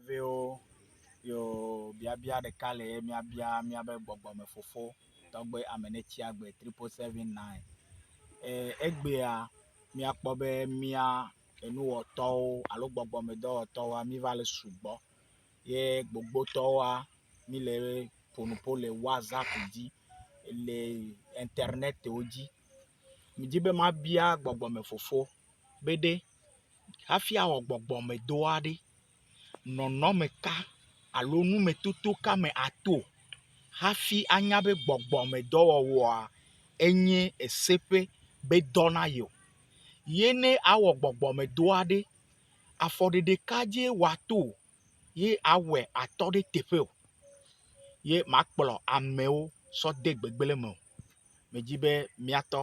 Viwo, yo biabia ɖeka le ye míabia míabe gbɔgbɔmefofo, tɔgbe Amenetsiagbe triple seven nine. E, egbea míakpɔ be mía enuwɔtɔwo alo gbɔgbɔmedɔwɔtɔwoa míva le sugbɔ ye gbogbotɔwoa míle ƒonuƒo le WhatsApp dzi le internetwo dzi. Medi be mabia gbɔgbɔmefofo be ɖe hafi awɔ gbɔgbɔmedɔ aɖe, nɔnɔme ka alo numetoto ka me ato hafi anya be gbɔgbɔmedɔwɔwɔa enye ese ƒe be dɔ na yewo. Ye ne awɔ gbɔgbɔmedɔ aɖe, afɔ ɖeɖe ka dzie wòato ye awɔe atɔ ɖe teƒe o ye makplɔ amewo sɔ de gbegblẽ me o. Medi be míatɔ.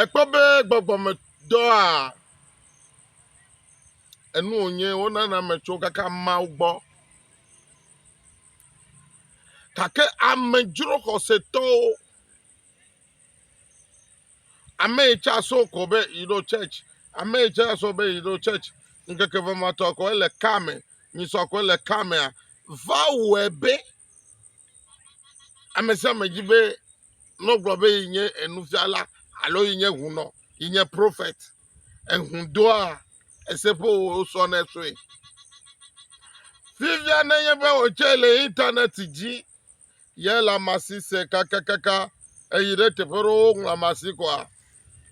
Èkpɔ be gbɔgbɔmedɔa enu wònye wonana ame tso kaka Mawu gbɔ. Gake ame dzro xɔsetɔwo, ame yi tsa so ko be yeɖo church, ame yi tsa so be yeɖo church, ŋkeke ʋematɔ ko ele ka me, nyisɔ ko ele ka mea, va wɔe be Ame sia ame di be ne wogblɔ be ye nye nufiala alo ye nye hunɔ, ye nye prophet, eŋu doa ese ƒe wosɔ nɛ sue. Fifia ne nye be wòtsɛ le internet dzi ye le ama si se kakakaka eyi ɖe teƒe ɖewo woŋlɔ ama si koa,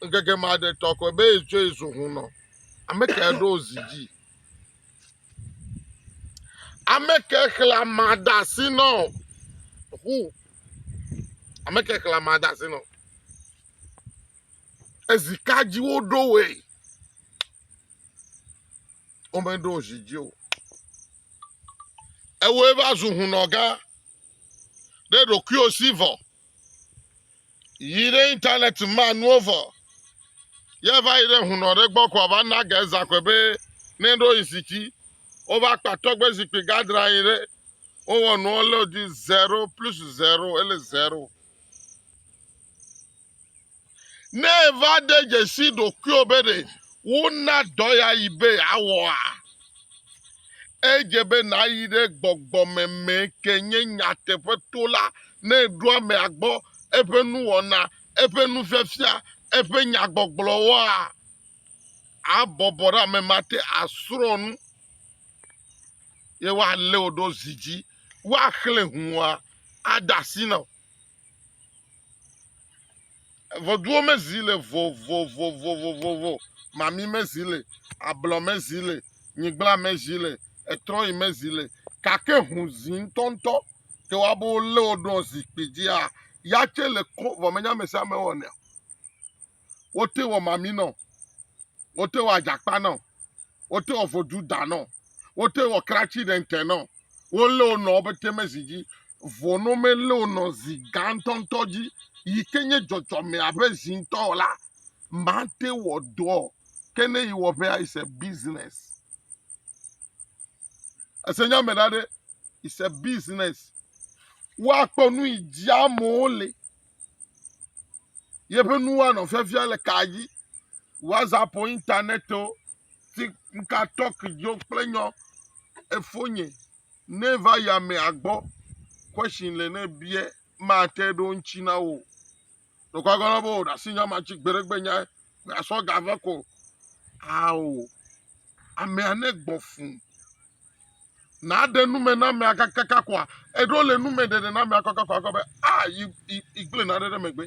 ŋkeke ma ɖe tɔ koe be yetsɔe zu hunɔ. Ame kae ɖo zi dzi? Ame ke xlẽ amea de asi na wò? Ŋu. Ame ke xlẽ amea de asi na wò? Ezi ka dzi woɖo wòe? Womeɖo wò zi dzi o. Ewɔe va zu hunɔgã ɖe ɖokuiwò si vɔ. Yi ɖe internet ma nuwo vɔ. Ye va yi ɖe hunɔ ɖe gbɔ kɔ va na ge zakɔe be ne ɖo yi sitsi. Wo va kpa tɔgbe zikpui gadra yi ɖe. Wo wɔ nuwo le di zero plus zero ele zero. Ne èva de dzesi ɖokuiwò be ɖe wona dɔ ya yi be yeawɔa, edze be nàyi ɖe gbɔgbɔmeme ke nye nyateƒe to la ne èɖo amea gbɔ, eƒe nuwɔna, eƒe nufiafia, eƒe nyagbɔgblɔwoa. Abɔbɔ ɖe ame ma te asrɔ̃ nu ye woalé wò ɖo zi dzi, woaxlẽ hũua, ade asi na wò. Ŋɔduwo me zi le vovovovovovo. Mami me zi le, ablɔ me zi le, nyigblã me zi le, etrɔyi me zi le. Gake ŋu zi ŋutɔŋutɔ ke wo abe wolé wo ɖo zikpui dzia, ya tsɛ le ko vɔ menye amesiame wɔnɛ o. Wote wɔ mami nɛ o. wote wɔ adzakpa nɔ, wote wɔ vodu da nɔ, wote wɔ kratsi ɖe ŋte nɔ, wolé wo nɔwo be te me zi dzi, vɔ ne womelé wo nɔ zi gã ŋutɔŋutɔ dzi yi ke nye dzɔdzɔme abe zi ŋutɔ o la, mate wɔ dɔ o. Ke ne yi wɔƒea, it's a business. Ese nya me ɖa ɖe. is a business woakpɔ nu yi dzi amewo le yeƒe nuwo anɔ fiafia le ka dzi whatsapp o internet o tiktok dzo kple nyɔ efonye ne va yi amea gbɔ question le ne bia mate ɖo ŋuti na wo Nukɔgɔlɔ bo ɖasi nya ma dzi gbeɖegbe nya asɔ ga ve ko. Ao. Amea ne gbɔ fun. Na de nume na mea kakaka kwa. Eɖo le nume ɖeɖe na mea kakaka kwa be a yi yi gble na ɖe ɖe megbe.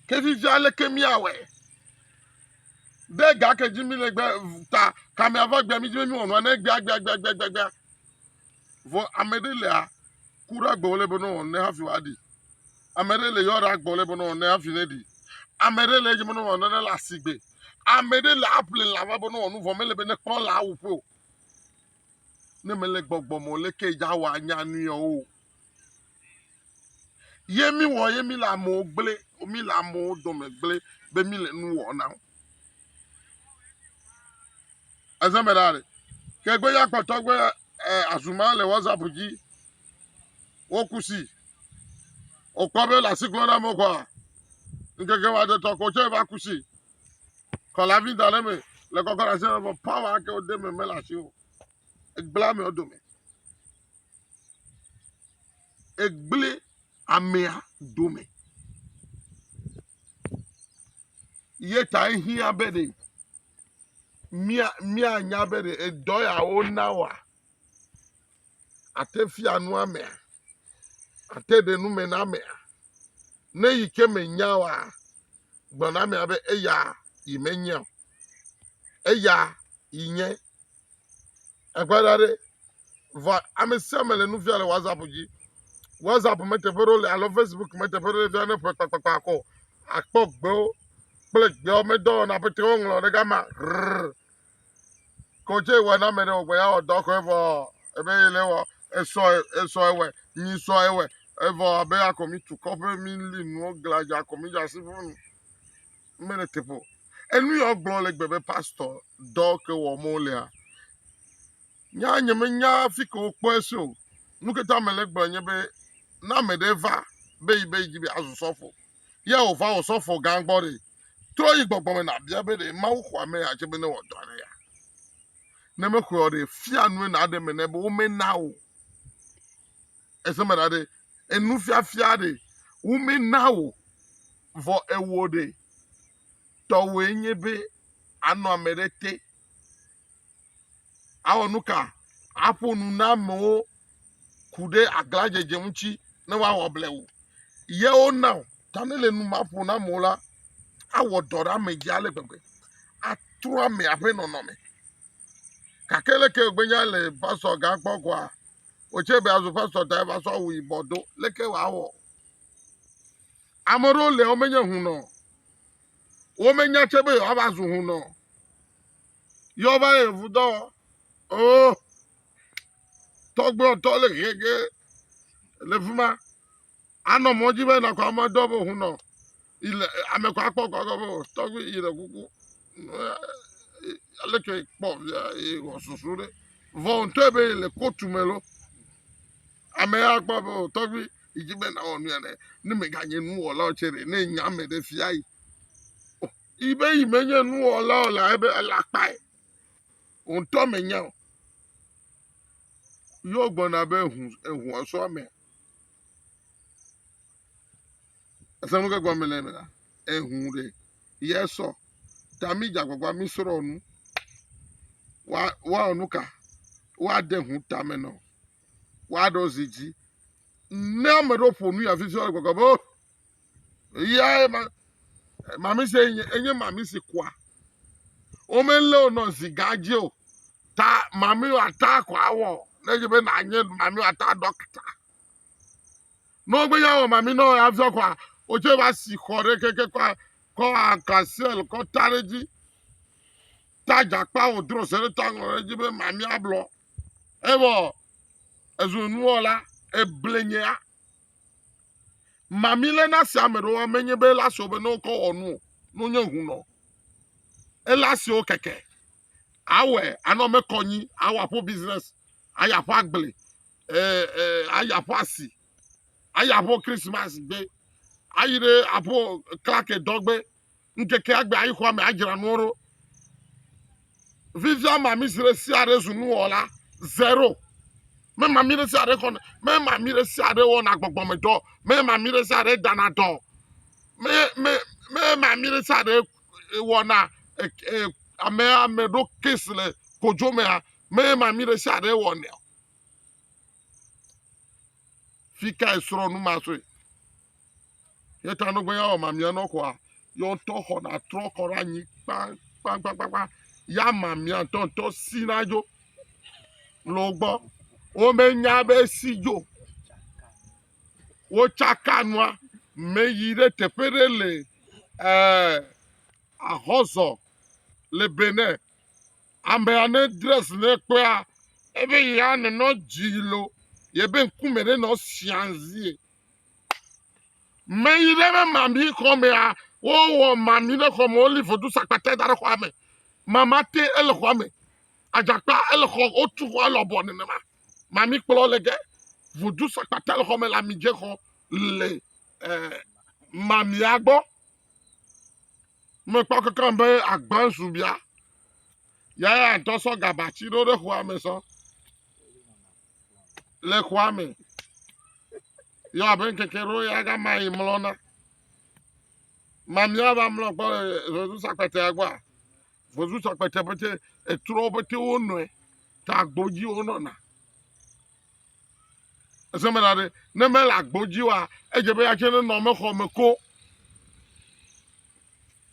Ke vivi ale ke mi awe. De ga ke dzi mi le gbe ta ka mea va gbe mi dzi mi wonua ne gbe gbe gbe gbe gbe. Vo ame ɖe lea ku ɖe agbe wòle be nɔ wɔnu ne hafi wòaɖi. Ame ɖe le yɔ ɖe agbe wòle be nɔ wɔnu ne hafi ne ɖi. Ame ɖe le edzi be nɔ wɔnu ne le asigbe. Ame ɖe le aƒle lã va be nɔ wɔnu vɔ mele be ne kpɔ lã awu ƒe o. Ne mele gbɔgbɔ me o le ke dza wɔ anya nui o. Ye mi wɔ ye mi le amewo gble, mi le amewo dome gble be mi le nu wɔ na wo. eze me ɖa ɖe ke gbe ya kpɔtɔ gbe azuma le whatsapp dzi wokusi okpɔ be le asi klɔ na mo kɔa nkeke wa de tɔ ko tse va kusi kɔla vi da ɖe me le kɔkɔ ɖe asi me bɔ pawa ke wode me mele asi o egbla me dome egble amea dome ye ta ehiã be ɖe mía míanya be ɖe edɔ ya wona woa ate fia nu amea ate ɖe nu me na amea ne yi ke menya oa gblɔ na amea be eya yi menyea o eya yi nye Eƒe ɖa ɖe. Vɔa ame sia ame le nu fia le WhatsApp dzi. WhatsApp me teƒe ɖewo le alo Facebook me teƒe ɖewo le fia ne ƒe kpakpakpa kɔ. Akpɔ gbewo kple gbewo medɔwɔna pete woŋlɔ ɖe gama. Rrr. Kɔdze wɔ na ame ɖe wògbe ya wɔ dɔ kɔe vɔ ebe yi le wɔ esɔ esɔ ewɛ nyi sɔ ewɛ evɔ abe akɔ mi tu kɔƒe mi li nuwo gladza akɔ mi dza si ƒunu. mele teƒe o enu ya wogblɔ le gbe be pastor dɔ ke wɔm wolea nya nye menya fi ke wokpɔe so o nu ke ta mele gblɔ nye be na ame ɖe va be yi be yi dzi be azu sɔfo ya wòva wɔ sɔfo gã gbɔ ɖe trɔ yi gbɔgbɔ me nàbia be ɖe mawu xɔ ame ya dze be ne wɔdɔ aɖe ya ne mexɔe o ɖe fia nue nàɖe me nɛ be womena o ese me ɖa ɖe, enufiafia ɖe, womena wò, vɔ ewɔ ɖe. Tɔwòe nye be anɔ ame ɖe te, awɔ nu ka? Aƒo nu na amewo ku ɖe aglãdzedze ŋuti ne woawɔ blewu. Ye wona wò. Ta ne le nu ma ƒo na amewo la, awɔ dɔ ɖe ame dzi ale gbegbe. Atrɔ amea ƒe nɔnɔme. Gake leke wògbe nya le pastor gã gbɔ koa? Wòtse be azɔ pastor ta eva sɔ awu yibɔ do. Leke wòawɔ? Ame aɖewo le womenye hunɔ. Womenya tse be yewoava zu hunɔ. Yewoava le vudɔ. Oh, tɔgblɔtɔ le gege le fi ma. Anɔ mɔ dzi be nakɔ ame dɔ be hunɔ. Ile ame kɔ akpɔ kɔ be tɔgbi ile kuku. Ale ke kpɔ via e wɔ susu ɖe. Vɔ ntɔ be ile kotu me lo. Ame ya kpɔ be tɔgbi idzi be na wɔ nuya ne ne me ga nye nu wɔla tse ɖe ne nya me ɖe fia yi. Ibe yi me nye nu wɔla o la ebe ele akpae. Ntɔ me nya o. Yo gbɔna be ehu ehu asɔ ame. Ese nu ke gɔme le me la, ehu ɖe yɛ sɔ ta mi dze agbagba mi srɔ nu wa wa nu ka wa de hu ta me nɔ wa ɖo zi dzi ne ame ɖewo ƒo nu ya fifi wa gbɔgbɔ be Eyae ma, mamisi enye, enye mamisi kua. Womelé wo nɔ zigã dzi o. Ta mami wòata ko awɔ ne dze be nànye mami wòata dɔkta. Ne wogbe ya wɔ mami nɔ afiɔ kɔa, wotsɛ va si xɔ ɖe keke kɔ kɔ akasiel kɔ ta ɖe dzi. Ta dzakpa wòdro se ɖe ta ŋlɔ ɖe dzi be mami ablɔ. Evɔ ezu nuwɔla eblenyea. Mami lé na se ame ɖewo ame nye be ele asewo be ne wokɔ wɔ nu o, ne wonye ŋu nɔ. Ele asewo keke. Awɛ anɔ me kɔ nyi, awɔ aƒo business, ayi aƒo agble, e, e, ayi aƒo asi, ayi aƒo Christmas gbe, ayi ɖe aƒo klake dɔ gbe. ŋkeke agbe ayi xɔa me adzra nuwo ɖo. Vivia ma mi si ɖe sia ɖe zu nuwɔla zero. Mema mi ɖe sia ɖe xɔna, mema mi ɖe sia ɖe wɔna gbɔgbɔmedɔ, mema mi ɖe sia ɖe dana dɔ, mema mi ɖe sia ɖe wɔna e, e, ame ame ɖo kes le kodzo mea, mema mi ɖe sia ɖe wɔnɛ o. Fi kae srɔ̃ nu ma sue? Ye ta no gbe ya ma mia no kwa yo to xɔ na trɔ kɔ ra nyi kpa kpa kpa kpa kpa ya ma mia to to si na jo lo gbɔ wo me nya be si jo wo tsaka nua me yi ɖe teƒe ɖe le eh, ahɔzɔ le Benin Amea ne dress ne kpea ebe ya ne nɔ dzi lo yebe ŋkume ɖe nɔ sianzie. Me yi ɖe be mami xɔmea wowɔ mami ɖe xɔme woli vodu sakpata da ɖe xɔa me. Mama te ele xɔa me. Adzakpa ele xɔ wotu xɔa lɔbɔ nenema. Mami kplɔ le ge vodu sakpata le xɔme le amidze xɔ le eh, mamia gbɔ. Mekpɔ kekem be agbã zu bia. Ya ya ŋutɔ sɔ gabati ɖo ɖe xɔa me sɔ. Le xɔa me. Yɔ abe ŋkeke ɖo ya gama yi mlɔna. Mamia va mlɔ gbɔ le vozu sakpetea gbɔa. Vozu sakpetea pete etrɔ pete wo nɔe. Ta gbodzi wo nɔna. Ese me ɖa ɖe, ne mele agbo dzi oa, edze be ya tsɛ nenɔ ame xɔ me ko.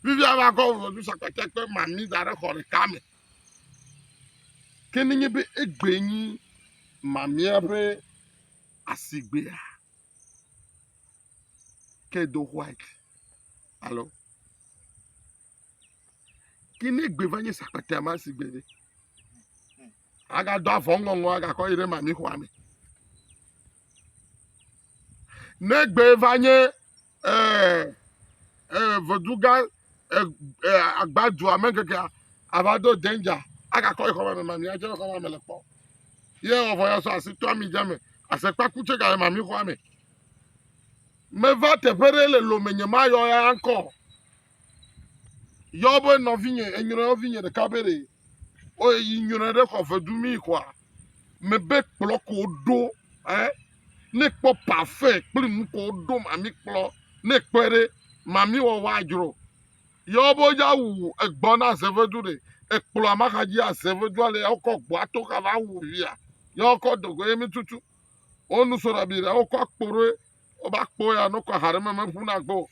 Fifia va kɔ ʋɔtru sakpatia kple mami da ɖe xɔ ɖeka me. Ke ne nye be egbe nyi mamia ƒe asigbea, ke do white. Alo. Ke ne egbe va nye sakpatea ma si gbe ɖe, agado avɔ ŋɔŋɔ agakɔ yi ɖe mami xɔa me. Ne egbe va nye eh, eh, veduga eh, eh, agbadua me kekea, ava do danger agakɔ yi xɔa me mami adze le xɔa me le kpɔ. Ye ɔvɔ ya sɔ asi to ami dze me, asekpa ku tse ga le mami xɔa me. Meva teƒe ɖe le lome nye mayɔ ya ŋkɔ. Yɔ be nɔvinye, enyrɔ yɔvinye ɖeka be ɖe oye yi nyrɔe ɖe xɔ vedu mi xɔa. Mebe kplɔ ko ɖo ɛ. Ne kpɔ pafe kple nu ko ɖo mami kplɔ. Ne kpɔe ɖe mami wɔwɔ adzro. Yɔ be ya wu egbɔ na zevedu ɖe. Ekplɔ amaxa dzi azevedua le ɔkɔ gbɔ ato xa va wu via. Yɔ kɔ dogo ye mi tutu. Onu so ɖe bi ɖe ɔkɔ akpo ɖe ɔba kpo ya nɔkɔ ha ɖe me me ƒu na gbɔ.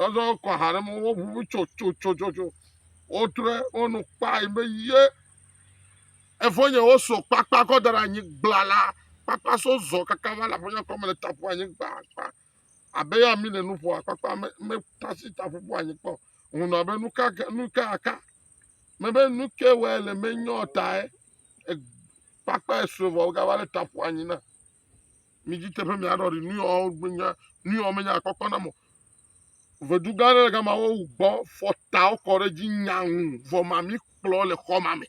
Azɔ kɔ aha ɖe me woʋuʋu tsotsotsotso. Wotrɔe wo nu kpae be ye efonye wosɔ kpakpa kɔ da ɖe anyi gblala. Kpakpa so zɔ kaka va le afonye kɔme le taƒo anyi gbagba. Abe ya mi le nu ƒoa kpakpa me me tasi taƒo ƒo anyi kpɔ. Ŋunɔ be nu ka ke nu ka aka. Mebe nu ke wɔe le menyɔ tae. E, kpakpa esue vɔ wogava le taƒo anyi na. Mi dzi teƒe mi aɖɔ ɖi nu yawo gbenya nu yawo menya kpɔkpɔ na mɔ. Vedu gã aɖe le gama wo gbɔ fɔtawo kɔ ɖe dzi nyaŋu vɔ ma mi kplɔ le xɔ ma me.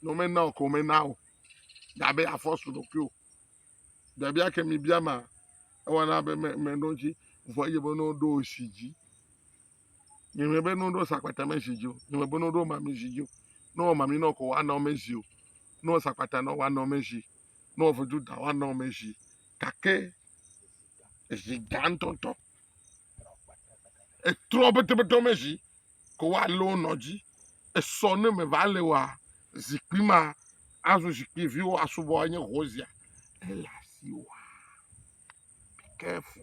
Ne womena o ko mena o. Dabe afɔsu ɖokui o. Biabia ke mi bia ma ewana be me me ɖo dzi vɔ eye be no ɖo si dzi. Nyemɛ be no ɖo sakpata me zi dzi o. Nyemɛ be no ɖo mami zi dzi o. No wɔ mami nɔ ko wa nɔ me zi o. No wɔ sakpata nɔ wa nɔ me zi. No wɔ vudu da wa nɔ me zi. Gake zi da ŋtɔŋtɔ. Etrɔ betebetɔ me zi ko wa le wo nɔ dzi. Esɔ ne me va le wa zikpui ma azu zikpui vi wo asubɔ enye ho zia. Ele asi wa. Be careful.